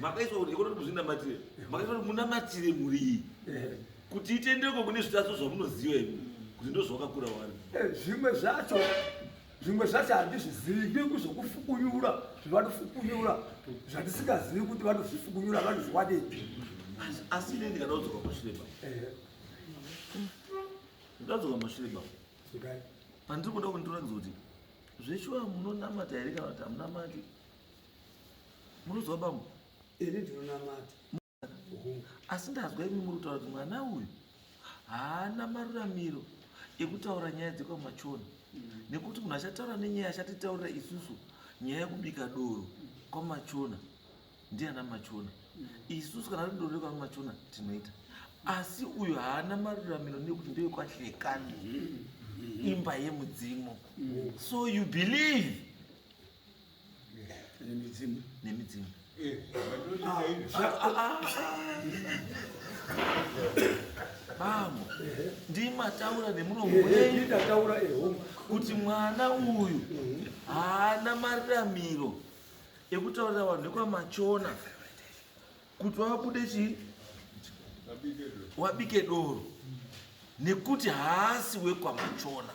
makaiswa kuti kuti muzvinamatire makaiswa kuti munamatire mhuri iyi kuti itendeko kune zvitadzo zvamunoziva imi kuti ndozvakakura wani eh, zvimwe zvacho zvimwe zvacho handizvizivi nge kuzvokufukunyura zvavanofukunyura zvandisingazivi kuti vanozvifukunyura vanozviwanepi asi ine ndikadadzoka mashure ba eh. ndadzoka mashure ba pandiri kuda kundiratidza kuti zveshuwa munonamata here kana kuti hamunamati muruziwa bambo ini ndinonamata asi ndazwa imi muri kutaura kuti mwana uyu haana maruramiro ekutaura nyaya dzekwamachona mm. nekuti munhu achataura nenyaya achatitaurira isusu nyaya yekubika doro kwamachona ndiana machona mm. isusu kana ri doro rekwamachona tinoita asi uyu haana maruramiro nekuti ndeyekwahlekani mm-hmm. imba yemudzimu mm. so you believe nemidzimu nemidzimu eh, ah, ah, ah, bambo ndimataura nemuromo wendaura eh, eh, kuti mwana uyu mhm. haana mariramiro ekutaurira vanhu nekwamachona kuti wabude chii wabike doro nekuti haasi wekwamachona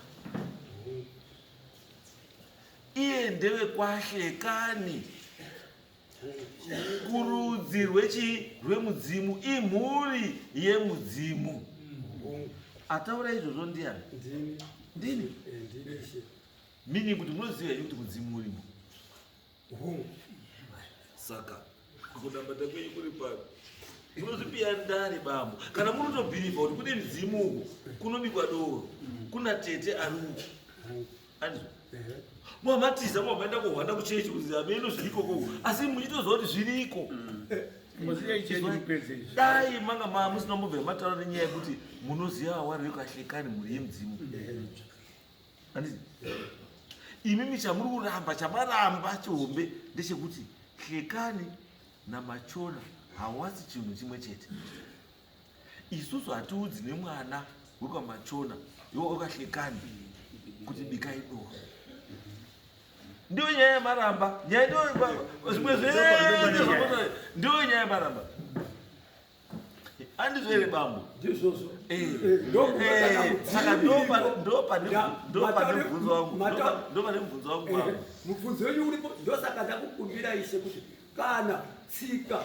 Iye ndewekwashe kani. Kurudzi rwechi rwemudzimu imhuri yemudzimu. Ataura izvozvo ndiani? Ndini. Eh, Meaning kuti munoziva here kuti mudzimu urimo? Saka Kunambata kwenyu kuri papi? Munozvipiya ndare bambo. Kana munotobhirivha kuti kune midzimu uko kunobikwa doro. Kuna tete ari uko. Anizwa? Mwamatiza mwamaenda kuhwanda kuchechi kuti ameno zviriko koko. Asi muchitoziva kuti zviriko. Dai manga ma musina mbobva mataura nenyaya yekuti munoziva awari yekuashekani mhuri yemudzimu. imimi chamuri kuramba chamaramba chihombe ndechekuti hlekani namachona hawasi chinhu chimwe chete isusu hatiudzi nemwana wekwamachona yokahlekani kuti bikai doo ndiyo nyaya yamaramba nyaya ndiyo zvimwe zvee ndiyo nyaya yamaramba andizvo here bambo ndizvozvo Eh, eh, saka ndopa- ndopa ne- Da- ndopa mataure- nemubvunzo wangu mata- ndopa- ndopa nemubvunzo wangu bambo Eh, mubvunzo wenyu uripo ndosaka ndakukumbira ishe kuti kana tsika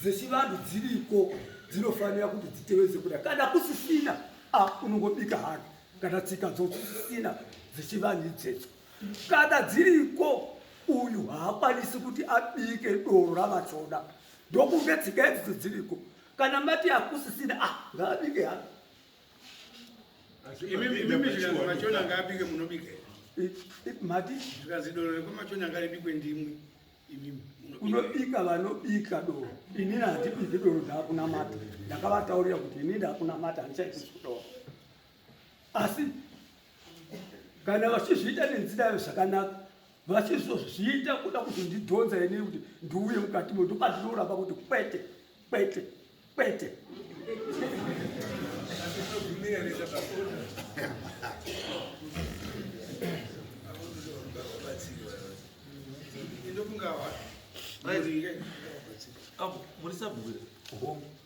dzechivanhu dziriko dzinofanira kuti dziteveze kuda kana kusisina a unongobika hake kana tsika dzosisina dzechivanhu idzedzo kana dziriko uyu haakwanisi kuti abike doro ravachoda ndokunge tsika idzidzo dziriko kana mati hakusisina ah ngaabike hako mati unobika vanobika doro ini handibiki doro ndakunamata ndakavataurira kuti ini ndakunamata handichaiti kudoro asi kana vachizviita nenzira yavo zvakanaka vachizozviita kuda kuzondidhonza ini kuti ndiuye mukati mo ndopandinouramba kuti kwete kwete kwete Apo, muri sabhuku here?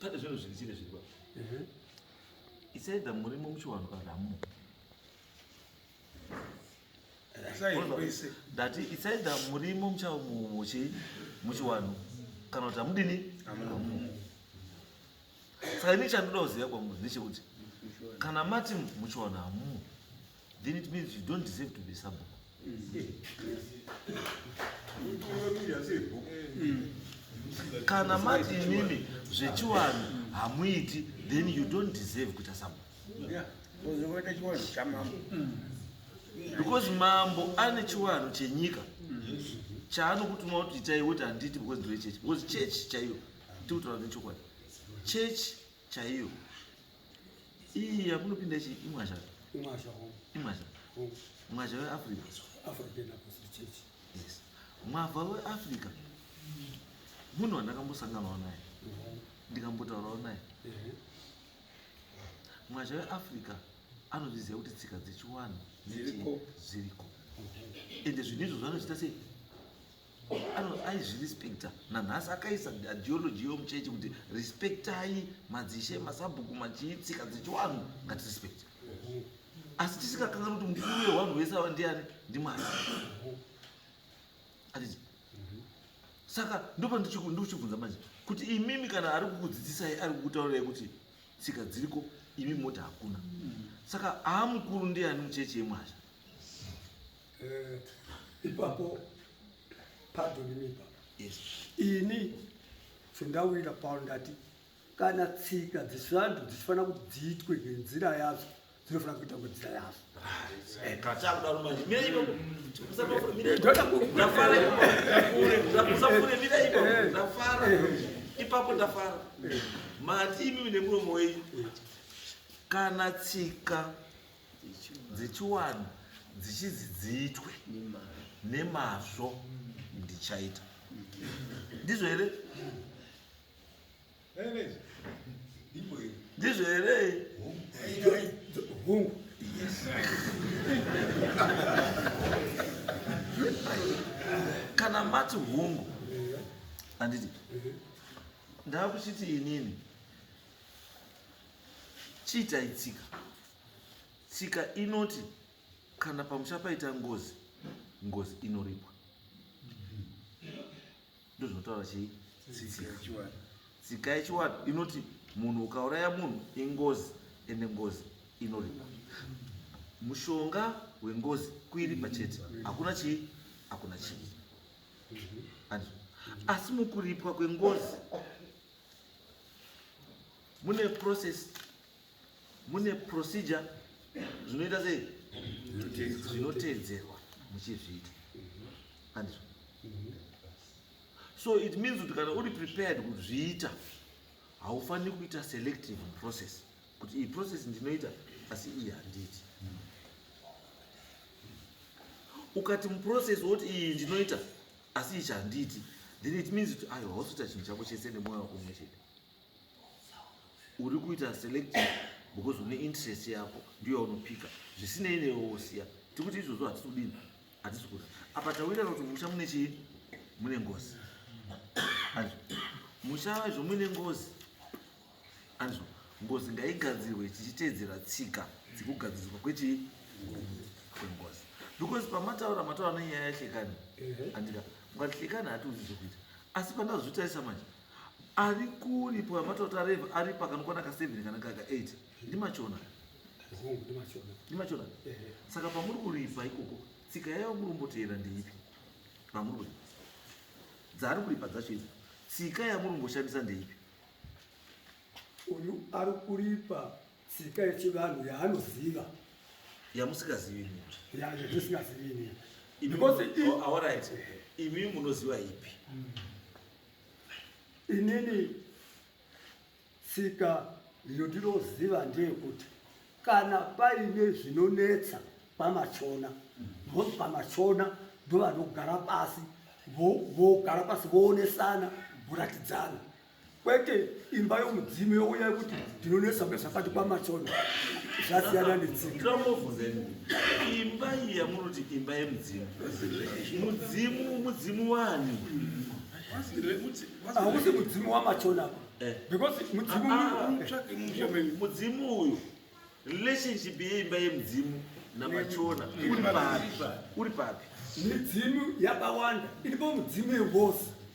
pane zvinhu zviri chiri zviripa isaida murimo muchiwanhu kana hamumo ndati isaida murimo muchamuchi muchiwanhu kana kuti hamudini saka ini chandoda kuziva kwamuri ndechekuti kana mati muchiwanhu hamumo then it means you don't deserve to be sabhuku kana mati imimi zvechiwanhu hamuiti then you don't deserve kuita sabhuku because mambo ane chiwanhu chenyika chaanokutuma kuti itai woti handiti because ndoe chechi because chechi chaiyo tikutaura nechokwadi chechi chaiyo iyi yakunopinda chii imwazha imwazha home imwazha home mwazha weafrica african apostle church yes mwavha weafrica munhu wandakambosanganawo naye ndikambotaurawo naye mwazha weafrica anozviziva kuti tsika dzechiwanhu dziriko ende zvinhu izvo zvanochita sei aizvirespecta nanhasi akaisa ideology yomuchechi kuti respectai madzishe masabhuku machii tsika dzechiwanhu ngatirespecte asi tisikakanganwa kuti mukuru wewanhu wese ava ndiani ndimwari atiti saka ndopa ndochibvunza manje kuti imimi kana ari kukudzidzisai ari kukutaurirai kuti tsika dziriko imi moti hakuna saka aamukuru ndiani muchechi yemwazha Eh, ipapo padonimipa yes. ini sendawira paul ndati kana tsika dzesvantu dzichifanira kuti dziitwe nenzira yadzo dzinofanira kuita nenzira yadzo ipapo ndafara mati imimi nemuromo wenyu kana tsika dzechiwanhu dzichizi dziitwe nemazvo ndichaita ndizvo here ndizvo here hungu kana mati hungu anditi ndava kuchiti inini Chiitai tsika. Tsika inoti kana pamusha paita ngozi, ngozi inoripwa. Ndozvinotaura chii? Tsika yechiwadu inoti munhu ukauraya munhu ingozi ende ngozi inoripwa. Mushonga wengozi kuiripa chete. Hakuna chii? Hakuna chii. Asi mukuripwa kwengozi mune process mune procedure zvinoita sei zvinoteedzerwa muchizviita andizvo so it means kuti kana uri prepared kuzviita haufaniri kuita selective process kuti iyi process ndinoita asi iyi handiiti ukati muprocess woti iyi ndinoita asi ichi handiiti then it means kuti ayo hausoita chinhu chako chese nemwoyo wako mwe chete uri kuita select because une interest yako ndiyo yaunopika zvisinei newe wosiya tiri kuti izvozvo hatisi kudini hatisi kuda apa tawirana kuti musha mune chii mune ngozi anzvo musha waizvo muine ngozi anzvo ngozi ngaigadzirwe tichiteedzera tsika dzekugadziriswa kwechii kwengozi because pamataura mataura nenyaya yahlekani andika mukati hlekani hatiuzi zvekuita asi pandazvitarisa manje Ari kuri pwamata kuti areva ari pakanokwana ka 7 kana kaka 8 ndimachona ndimachona saka pamuri kuripa ikoko tsika yayo muri kumboteera ndeipi pamuri kuripa dzaari kuripa dzacho idzo tsika yamuri kumboshandisa ndeipi uyu ari kuripa tsika yechivanhu yaanoziva yamusikazivi yamusikazivi because oh, all right imi munoziva ipi mm. Inini tsika yondinoziva ndeyekuti kana paine zvinonetsa pamachona because pamachona ndovanogara pasi vogara pasi voonesana voratidzana kwete imba yomudzimu youya kuti tinonetsa zvakati kwamatsono zvasiyana netsingaombobvunzeni imba iyi yamunoti imba yemudzimu mudzimu mudzimu wani hausi mudzimu wamachona eh. because mudzimu ah, mudzimu uyu relationship yeimba yemudzimu namachona uri papi midzimu yakawanda iripo mudzimu yevosi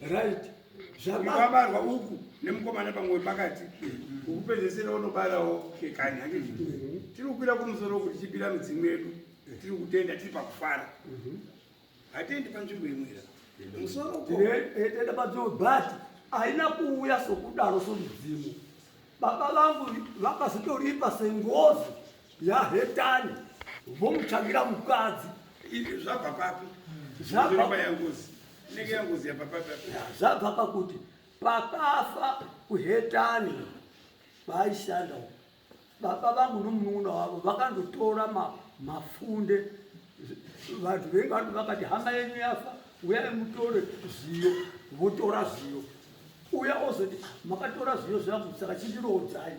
right zvakabarwa uku nemukomana pamwe pakati ukupedzesera unobarawo kekani hake tiri kukwira kumusoro kuti chipira midzimu yedu tiri kutenda tiri pakufara hatendi panzvimbo imwira musoro tenda panzvimbo but haina kuuya sokudaro somudzimu baba vangu vakazotoripa sengozi yahetani vomutsvagira mukadzi zvabva papi zvabva yangozi inenge yangozi yabva papi zvabva pakuti pakafa kuhetani vaishanda baba vangu nomunun'una wavo vakandotora mafunde vanhu vengi vanhu vakati hama yenyu yafa uyai mutore zviyo votora zviyo uya ozoti makatora zviyo zvangu saka chindirodzai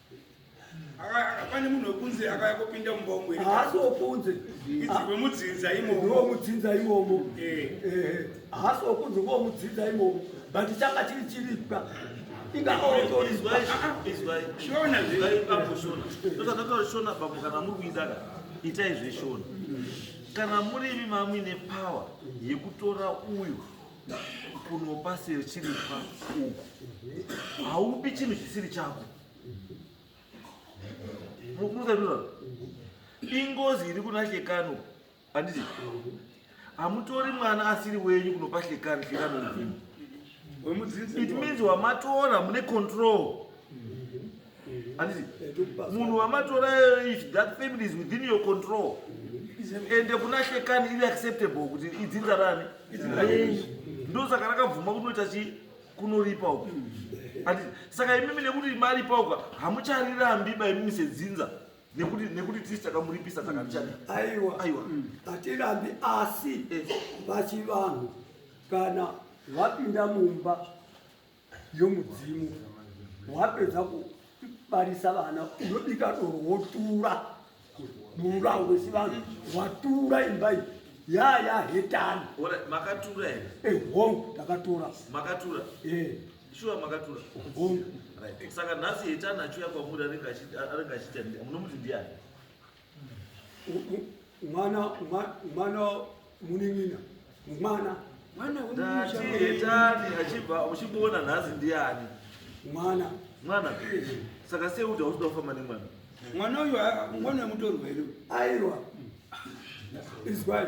pane munhu wekunze akauya kopinda mumba umwe haasi wokunze wemudzinza imomo ndiwo mudzinza imomo eh. eh, haasi wokunze kuwo mudzinza imomo but changa chiri chiripwa ingaaotorizwaishona bambo kana muri kuidaka itai zveshona kana murimi mamuine power yekutora uyu kunopa sechiripwa uku haupi chinhu chisiri chako mukuzaia ingozi iri kuna hlekano handiti hamutori mwana asiri wenyu kunopa hlekano hlekano mvini it means wamatora mune control handiti munhu wamatora if that family is within your control ende kuna shekani iri acceptable kuti idzinza rani ndosaka rakabvuma kunoita chi kunoripa uku handiti saka imimi nekuti maripa uka hamucharirambi ba imimi sedzinza nekuti nekuti tisi takamuripisa takatichadi aiwa aiwa hatirambi asi eh. vachivanhu kana vapinda mumba yomudzimu wapedza kubarisa vana unobika doro wotura mururawo wechivanhu watura imba iyi yaya hetani makatura here ehong eh, takatura makatura eh. shuwa makatura hong saka nhasi hetani achiuya kwamuri anenge achiita munomuti ndiani mwana mwana munin'ina mwana mwana wemushaketani achibva uchimuona nhasi ndiani mwana mwana saka sei kuti hauchida kufamba nemwana mwana uyu mwana wemutorwa here aiwa izwai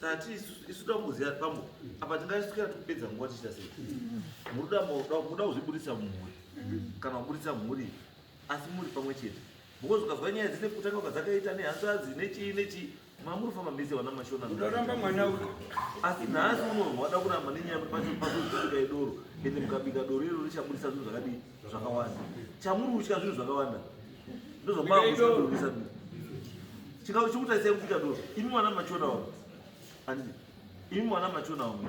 tati isu tamboziva pambo apa tingaisukira tikupedza nguva tichita sei muruda muda kuzviburitsa mumhuri kana kuburitsa mhuri asi muri pamwe chete because ukazwa nyaya dzine kutanga kwadzakaita nehanzvadzi nechii nechii mamuri famba mese vana mashona ndoramba mwana uko asi nhasi unorwa wada kuramba nenyaya pacho pazoika idoro ende mukabika doro iro richaburitsa zvinhu zvakadii zvakawanda chamuri kutya zvinhu zvakawanda ndozvamaakuisa chikau chikutarisai kuti chikadoro imi mwana machonawo ani imi mwana machonawo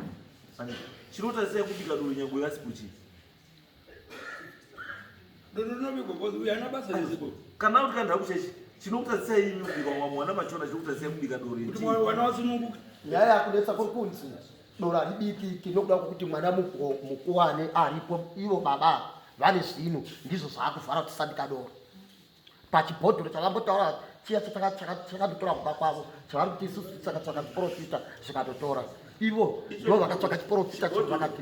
ani chinotarisai kuti chikadoro nyangwe yasipuchi kana kuti kandha kuchechi chinokutarisai imi kubika mwana machona chinokutarisai kubika doro nyaya yakunetsa kuri kunzi doro haribikiki nokuda kwokuti mwana mukuwane aripo ivo baba vane zvinhu ndizvo zvaakuvhara kuti sandika doro pachibhodhoro chavambotaura chiya chakanditora kumba kwavo chavari kuti isusu saka tsvaka chiporofita zvikatotora ivo ndo vakatsvaka chiporofita chivakati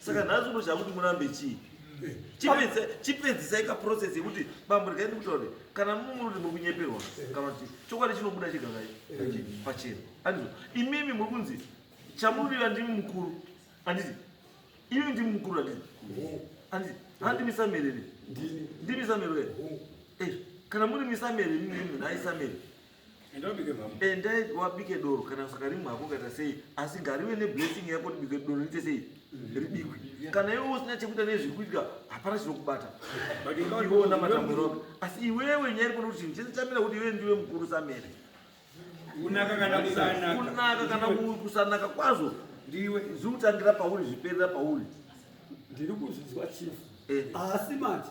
saka nhasi unoshaya kuti murambe chii chipedzisai kaprocess yekuti bambo rikai ndikutaure kana mumuri muri kunyeperwa kana kuti chokwadi chinobuda chigakai pachena andizo imimi muri kunzi chamurira ndimi mukuru anditi imimi ndimi mukuru anditi anditi handi misamerere ndimi samerere eh, kana muri misamerere mimi naisamerere endai wabike doro kana usakarimwa hako kaita sei asi ngarive neblessing yako tibike doro riite sei ribikwe kana iwe usina chekuita nezviri kuitika hapana chinokubata iweona matamuro ako asi iwewe nyaya irikona kuti chinhu chese chamira kuti iwe ndiwe mukuru samere kunaka kana kusanaka kwazvo ndiwe zviutangira pauri zviperera pauri ndiri kuzvinzwa chief eh. asi manje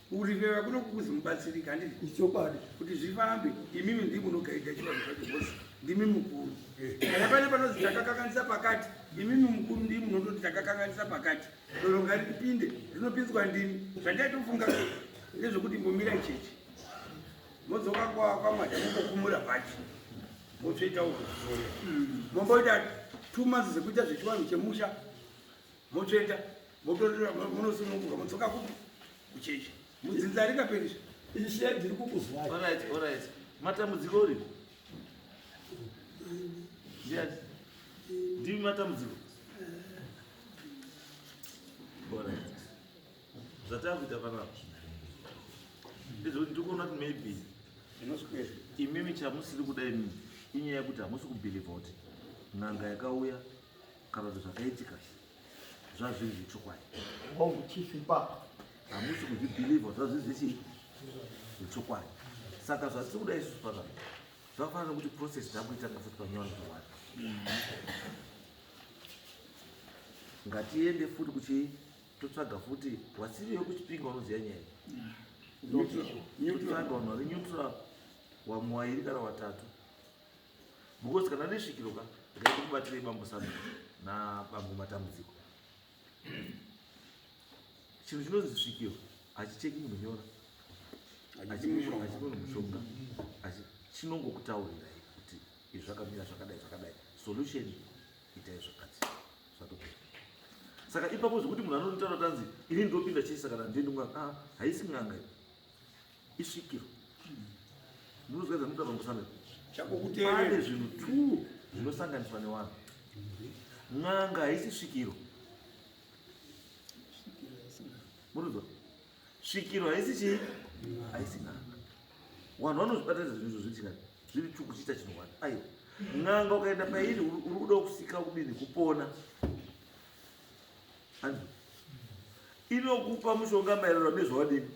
Kuriveva kuno kukuzi mubatsirike handiti? Ichokwadi. Kuti zvifambe imimi ndimi munogaidha chivanhu zvacho zvose. Ndimi mukuru. Kana pane panonzi takakanganisa pakati, imimi mukuru ndimi munototi takakanganisa pakati. Doro ngaripinde, rinopinzwa ndimi. Zvandaitofunga ndezvekuti imbomira ichechi. Modzoka kwaMwari mukokumura bhachi. Motsveta uko. Momboita two months dzekuita zvechivanhu chemusha. motsveta motorera monosununguka motsoka kupi kuchechi mudzinza ringaperisha ishe ndiri kukuzwai orit orit matambudziko uri ndiyati ndimi matambudziko orit zvatava kuita panapa ndizvoti ndikuona kuti maybe imimi chamusiri kuda imimi inyaya yekuti hamusi kubhilivha kuti n'anga yakauya kana kuti zvakaitika zvazviri zvechokwadi hongu chief ipapa hamusi kuzvibhilivha zvazviri zvechi zvechokwadi saka zvatiri kuda isusu pazvaa zvakafanana nokuti process dzakuitanga futi panyowani zvokwadi ngatiende futi kuchii totsvaga futi wasiri yokuchipinga unoziva nyaya totsvaga vanhu vari neutral wamwe wairi kana watatu because kana nesvikiro ka ndikaita kubatirei bambo sami nabambo matambudziko chinhu chinonzi svikiro hachicheki munhu nyora hachimunhu mushonga chinongokutaurirai kuti izvi zvakamira zvakadai zvakadai solution itai zvakati zvatopera saka ipapo zvekuti munhu anonotaura tanzi ini ndopinda chese kana ndinonga ah, haisi n'anga isvikiro ndinozwa zvamuta pamusana pane zvinhu two zvinosanganiswa nevanhu n'anga haisi svikiro murudzo svikiro haisi chii haisi n'anga vanhu vanozvibatanidza zvinhu izvo zvichikani zviri two kuchiita chinhu wani aiwa n'anga ukaenda pairi uri kuda kusika kudini kupona inokupa mushonga maererano nezvawadini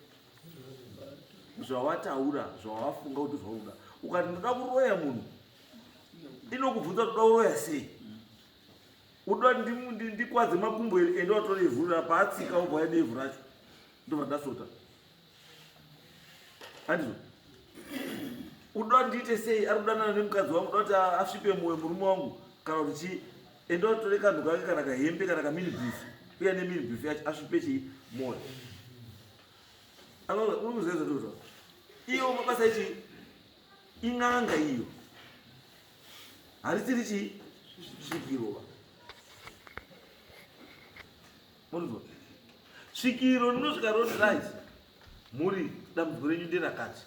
zvawataura zvawafunga kuti zvauda ukati ndoda kuroya munhu inokubvunza kuti uda kuroya sei uda ndikwadze makumbo here ende watora ivhu ra paatsika ubva yade ivhu racho ndobva ndasota handizvo uda ndiite sei ari kudanana nemukadzi wangu uda kuti asvipe mwoyo murume wangu kana kuti chii ende watore kanhu kake kana kahembe kana kaminibhifi uya neminibhifi yacho asvipe chii mwoyo Anoona uri kuzeza ndozvo. Iyo mabasa ichi in'anga iyo. Harisiri chi svikirova. Munzwa. Svikiro rinosvika roti right. Muri dambudziko renyu nderakati.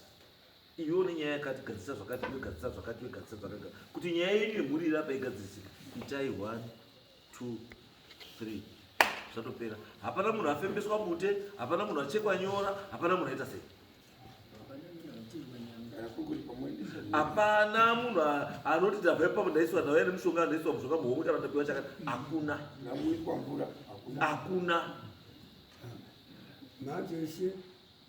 Iyo nenyaya yakati gadzisa zvakati, iyo gadzisa zvakati, iyo gadzisa zvakati. Kuti nyaya yenyu yemhuri irape igadzirisike. Itai one. two three zvatopera hapana munhu afembeswa bute hapana munhu achekwa nyora hapana munhu aita sei hapana munhu anoti ndabva ipapo ndaiswa ndauya ane mushonga ndaiswa mushonga muhomwe kana ndapiwa chakati hakuna hakuna manje ese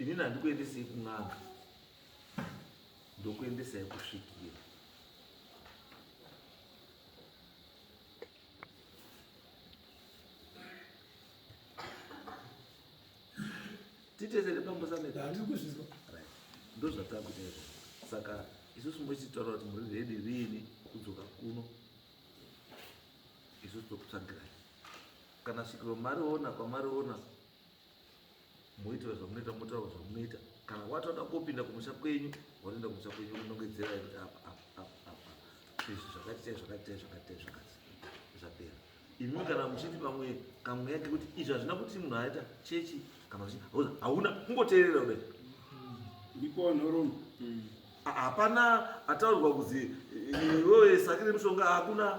inini handikuendesei kun'anga ndokuendesai kusvikira titesere pambosameandikuzvizwa ndozvatakuita izvo saka isusu mochitaura kuti muri redi riini kudzoka kuno isusu tokutsvagirai kana svikiro mariona kwamariona moitira zvamunoita motaura zvamunoita kana watoda kopinda kumusha kwenyu watoenda kumusha kwenyu unongedzera kuti apa apa apa apa izvi zvakati chai zvakati chai zvakati chai zvakati zvapera imwe kana muchiti pamwe kamweya kekuti izvi hazvina kuti munhu aita chechi kana kuti hauna kungoteerera kudai ndiko nhorombe mm. hapana ataurirwa kuzi iwewe sakire mushonga hakuna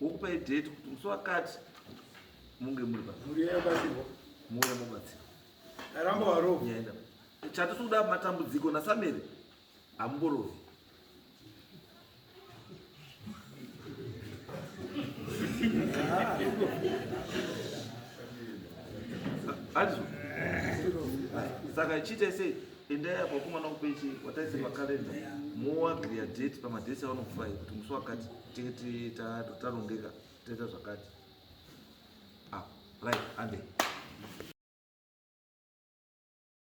wokupai date kuti musi wakati munge muri pamuuya mobatsirwa aramba warovi yaenda chati sikuda matambudziko nasamere hamumborovi handizo saka ichiita sei endai apa kumwana kupechi wataisirwa kalenda moagriya date pamadhesi avanokufai kuti musi wakati tete tarongeka toita zvakati ah, right ande